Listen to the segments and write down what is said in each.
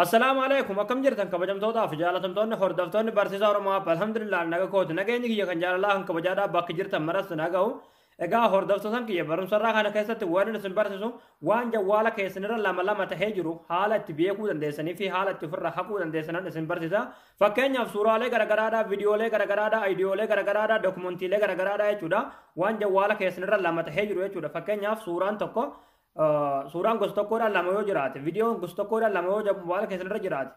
Assalaamu alaikum akkam jirtan kabajamtootaa fi jaalatamtoonni hordoftoonni barsiisaa Oromoo App alhamdulillah naga kooti nageenyi kiyya kan jaalalaa kan kabajaadhaa bakki jirtan maratti nagahu egaa hordoftootan kiyya barumsarraa kana keessatti waan isin barsiisu waan jawwaala keessanirra lama lama tahee jiru haala itti beekuu dandeessanii fi haala itti ofirraa haquu dandeessanan isin barsiisa fakkeenyaaf suuraalee garagaraadhaa viidiyoolee garagaraadhaa aayidiyoolee garagaraadhaa dookumantiilee garagaraadhaa jechuudha waan jawwaala keessanirra lama tahee jiru jechuudha fakkeenyaaf suuraan tokko suuraan gosa tokkoodhaan lama yoo jiraate viidiyoon gosa tokkoodhaan lama yoo mobaayila keessan irra jiraate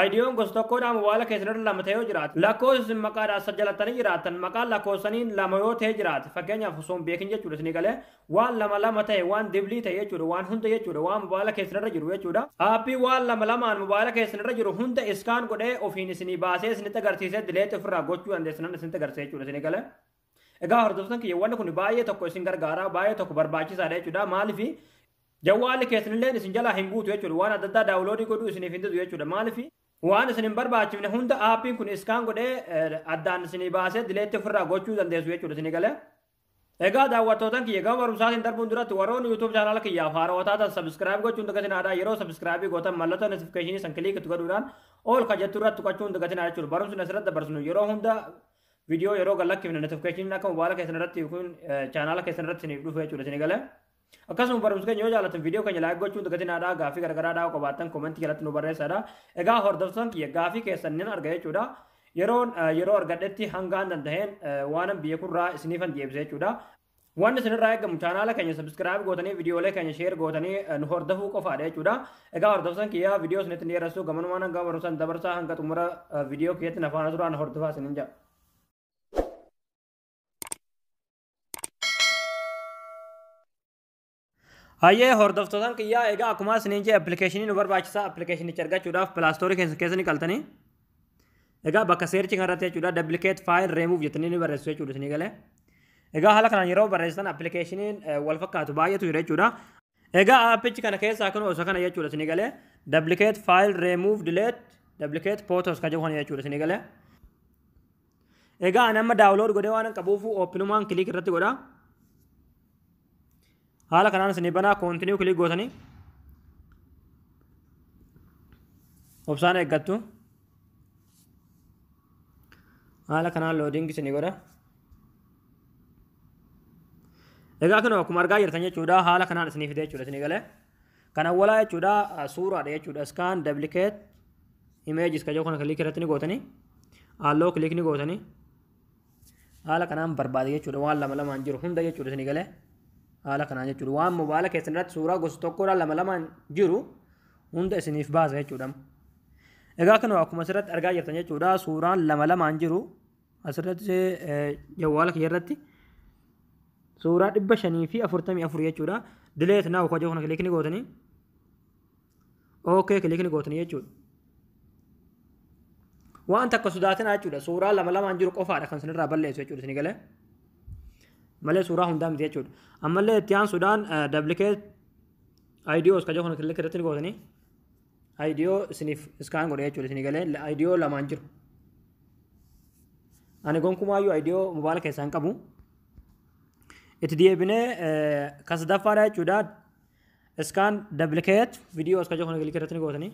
Ayidiyoon gosa tokkoodhaan mobaayila keessan irra lama ta'ee yoo jiraate lakkoofsi isin maqaadhaan sajjalatanii jiraatan maqaan lakkoofsaniin lama yoo ta'ee jiraate fakkeenyaaf osoo hin beekin jechuudha isin galee waan lama lama ta'e waan diblii ta'e jechuudha waan hunda jechuudha waan mobaayila keessan irra jiru jechuudha aappii waan lama lamaan mobaayila keessan irra jiru hunda iskaan godhee ofiin isinii baasee isinitti agarsiisee dileetti ofirraa gochuu dandeessan isinitti agarsiisee jechuudha isin galee Egaa hordoftan kiyya wanni kun baay'ee tokko isin gargaara baay'ee tokko barbaachisaadha jechuudha maaliif jawwaalli keessanillee isin jalaa hin guutu jechuudha waan adda addaa daawuloodii godhuu isiniif hin didu jechuudha maaliif waan isin hin barbaachifne hunda aappiin kun iskaan godhee addaan isinii baasee dileetti ofirraa gochuu dandeessu jechuudha isinii galee. Egaa daawwattootan kiyya gama barumsaatiin darbuun duratti warroonni YouTube chaanaala kiyyaaf haarawaa taatan sabiskiraayib gochuun dagatinaadha yeroo sabiskiraayibii gootan mallattoo notifikashinii san kiliikitti godhuudhaan ol ka jettu irratti tuqachuun dagatinaadha jechuudha barumsi asirratti dabarsinu yeroo hunda Viidiyoo yeroo gad lakkifne notification akka mobaayila keessan irratti yookiin chaanaala keessan irratti isiniif dhufu jechuudha isin galee. Akkasuma barumsa keenya yoo jaallattan viidiyoo keenya laayik gochuun dagatinaadhaa gaafii garagaraa dhaa'uu qabaattan koomentii jalatti nu barreessaadha. Egaa hordoftoon kiyya gaafii keessan nan arga jechuudha. Yeroon yeroo argadhetti hangaan danda'een waanan biyya kurraa isiniifan deebisa jechuudha. Wanti isinirraa eegamu chaanaala keenya sabiskiraayib gootanii viidiyoolee keenya sheer gootanii eh, nu hordofuu qofaadha jechuudha. Egaa hordoftoota kiyyaa viidiyoo isinitti hin dheeressu gamanumaan hanga barumsaan dabarsaa hanga xumura eh, viidiyoo kiyyatti na faana turaan hordofaa isinin jedha. Hayyee hordoftotaan kiyyaa egaa akkuma isiniin jee appilikeeshinii nu barbaachisa appilikeeshinicha argachuudhaaf pilaastoorii keessa keessa ni qaltanii. Egaa bakka seerchi kanarratti jechuudha duplicate file remove jettanii ni barreessu jechuudha isinii galee. Egaa haala kanaan yeroo barreessitan appilikeeshiniin wal fakkaatu baay'eetu jira jechuudha. Egaa aappichi kana keessaa kun osoo kana jechuudha isinii galee duplicate file remove delete duplicate photos kan jedhu kana jechuudha isinii galee. Egaa ani amma daawulood godhee waan qabuuf ooppinumaan kiliik irratti godhaa. haala kanaan isin banaa koontiniyuu kilik gootanii obsaan eeggattu haala kanaan loodiingi isin godha egaa kun akkuma argaa jirtan jechuudha haala kanaan isinii fide jechuudha isinii galee kan awwalaa jechuudha suuraadha jechuudha iskaan dablikeet imeejis kajoo kana kilik irratti ni gootanii halloo kilik ni gootanii haala kanaan barbaade jechuudha waan lama lamaan jiru hunda jechuudha isin galee haala kanaan jechuudha waan mobaala keessan irratti suuraa gosa tokkorraa lama lamaan jiru hunda isiniif baasa jechuudha egaa kanuma akkuma asirratti argaa jirtan jechuudha suuraan lama lamaan jiru asirratti jawwaala kiyya irratti suuraa dhibba shanii fi afurtamii afur jechuudha dileet naa hojii kana kilikni gootanii ok kilik ni gootanii jechuudha waan takka sodaatinaa jechuudha suuraa lama lamaan jiru qofaadha kan isinirraa balleessu jechuudha isin galee malee suuraa hundaa miti jechuudha ammallee itti aansuudhaan duplicate IDOs kan jedhu kilik irratti ni gootanii IDO isiniif iskaan godhe jechuudha isin galee IDO lamaan jiru ani gonkumaayyuu IDO mobaala keessaa hin qabu itti deebinee kan sadaffaadha jechuudha Iskaan duplicate video as ka jechuu kana kilikii irratti ni gootanii.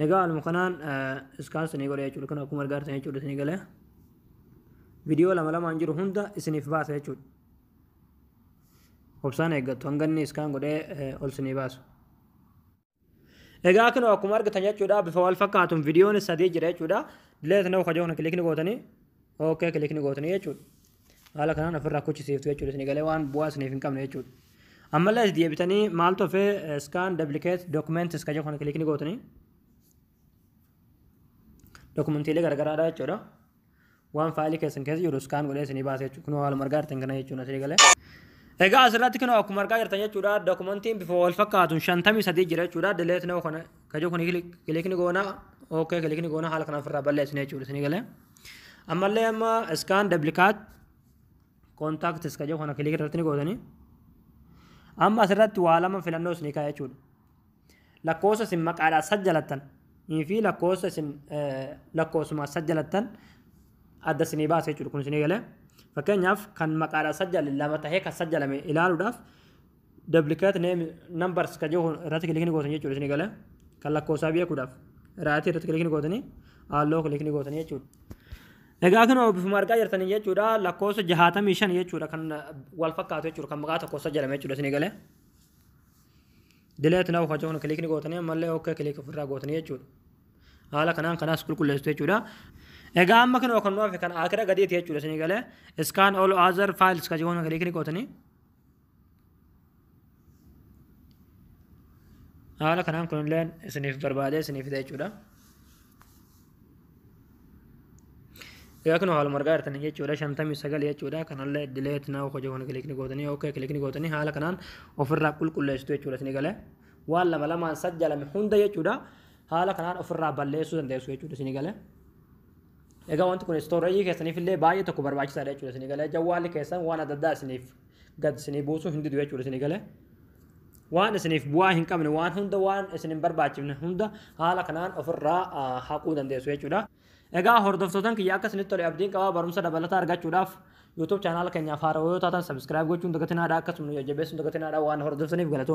Egaa haaluma kanaan iskaan isinii godha jechuudha. Kun akkuma argaa jirtan jechuudha isinii galee. Viidiyoo lama lamaan jiru hunda isiniif baasa jechuudha. Obsaan eeggattu hanga inni iskaan godhee ol isinii baasu. Egaa kunoo akkuma argitan jechuudha bifa wal fakkaatuun viidiyoon sadii jira jechuudha. Dileet na'u kajoo kana kilikni gootanii ookee kilikni gootanii jechuudha. Haala kanaan ofirraa kuchisiiftu jechuudha isin galee waan bu'aa isiniif hin qabne jechuudha. Ammallee as deebitanii maal tofee scan duplicate documents kajoo kana kilikni gootanii. Dokumentiilee garagaraadha jechuudha. waan faayilii keessan keessa jiru iskaan godhee isinii baasa jechuudha. Kunoo haaluma argaa jirtan kana jechuudha asii galee. Egaa asirratti kunoo akkuma argaa jirtan jechuudha dokumentiin bifa wal fakkaatuun shantamii sadii jira jechuudha delete now kana kajoo kun kilikni goona ok kilikni goona haala kana ofirraa balleessine jechuudha isinii galee. Ammallee amma iskaan duplicaat contacts kajoo kana kilik irratti ni gootanii. Amma asirratti waa lama filannoo isinii kaa'e jechuudha. Lakkoosa isin maqaadhaa sajjalattan fi lakkoosa isin lakkoosuma sajjalattan adda isinii baasa jechuudha kun isinii galee. Fakkeenyaaf kan maqaadhaa sajjale lama tahee kan sajjalame ilaaluudhaaf duplicate name numbers kan jiru irratti kilikni gootan jechuudha isinii galee. Kan lakkoosaa beekuudhaaf irratti irratti kilikni gootanii halluu kilikni gootanii jechuudha. Egaa kun obbifuma argaa jirtan jechuudha lakkoosa jahaatamii shan jechuudha kan wal fakkaatu jechuudha kan maqaa tokko sajjalame jechuudha isinii galee. Dileet naaf kacuun kilikni gootanii ammallee okkee kilik ofirraa gootanii jechuudha. Haala kanaan kanaas qulqulleessitu jechuudha. Egaa amma kinoo kan nuuf kan akira gadiiti jechuudha isinii galee scan all other files kacuun kilikni gootanii. Haala kanaan kunillee isiniif barbaadee isiniif fida jechuudha. Egaa kun haaluma argaa jirtan jechuudha shantamii sagal jechuudha kanallee dileet naa hojii kun kilikni gootanii ok kilikni gootanii haala kanaan ofirraa qulqulleessitu jechuudha isin galee waan lama lamaan sajjalame hunda jechuudha haala kanaan ofirraa balleessuu dandeessu jechuudha isin galee. Egaa wanti kun istooreejii keessaniif illee baay'ee tokko barbaachisaadha jechuudha isin galee jawwaalli keessan waan adda addaa isiniif gad isinii buusuu hin didu jechuudha isin galee. waan isiniif bu'aa hin qabne waan hunda waan isin hin barbaachifne hunda haala kanaan ofirraa haquu dandeessu jechuudha. Egaa hordoftootan kiyya akka isinitti tole abdiin qabaa barumsa dabalataa argachuudhaaf YouTube chaanaala keenyaaf haarawaa yoo taatan sabiskiraayib gochuun dagatinaadha akkasuma nu jajjabeessuun dagatinaadha waan hordoftaniif galatooma.